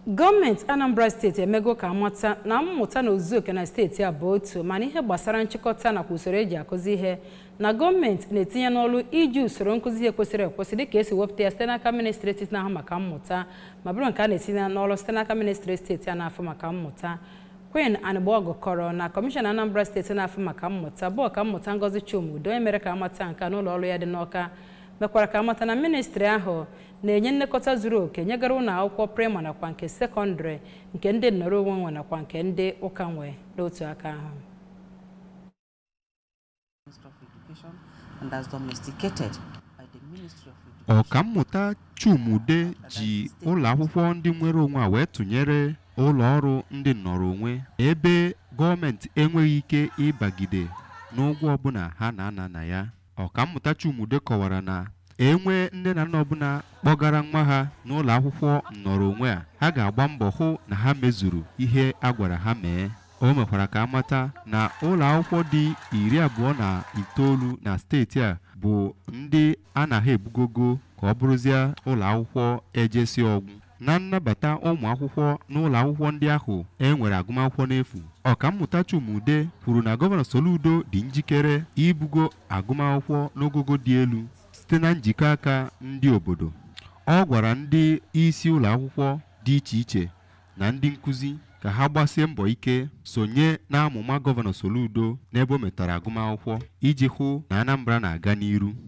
gọọmenti anambra steeti emego ka amata na mmụta n'ozuzu oke na steeti a bụ otu ma n'ihe gbasara nchịkọta nakwa usoro eji akụzi ihe na gọọmenti na-etinye n'ọrụ iji usoro nkụzi ihe kwesịrị ekwesị dịka esi wepụta ya site n'aka ministri etiti na-ahụ maka mmụta ma bụrụ nke a na-etinye n'ọrụ site n'aka ministri steeti a na-afụ maka mmụta Queen Anigbogu kọrọ na kọmishọna Anambra steeti na-afụ maka mmụta bụ ọkammụta Ngozi Chuma-Udeh onye mere ka amata nke a n'ụlọ ọrụ ya dị n'Ọka mekwara ka amata na ministri ahụ na-enye nlekọta zuru oke nyegara ụlọ akwụkwọ praịmarị nakwa nke sekọndịrị nke ndị nnọrọ onwe nwe nakwa nke ndị ụka nwe n'otu aka ahụ ọkammụta Chuma-Udeh ji ụlọ akwụkwọ ndị nwere onwe a wee tụnyere ụlọ ọrụ ndị nnọrọ onwe ebe gọọmenti enweghị ike ịbagide n'ụgwọ ọbụla ha na-ana na ya Ọkammụta Chuma-Udeh kọwara na e nwee nne na nna ọbụla kpọgara nwa ha n'ụlọ akwụkwọ nnọrọ onwe a ha ga-agba mbọ hụ na ha mezuru ihe a gwara ha mee o mekwara ka amata na ụlọ akwụkwọ dị iri abụọ na itoolu na steeti a bụ ndị a na ha ebugogo ka ọ bụrụzie ụlọ akwụkwọ ejesi ọgwụ na nnabata ụmụ akwụkwọ n'ụlọ akwụkwọ ndị ahụ e nwere agụmakwụkwọ n'efu ọkammụta Chuma-Udeh kwuru na gọvanọ Soludo dị njikere ibugo agụmakwụkwọ n'ogogo dị elu site na njikọ aka ndị obodo ọ gwara ndị isi ụlọ akwụkwọ dị iche iche na ndị nkụzi ka ha gbasie mbọ ike sonye n'amụma gọvanọ Soludo n'ebe o metara agụmakwụkwọ iji hụ na Anambra na-aga n'iru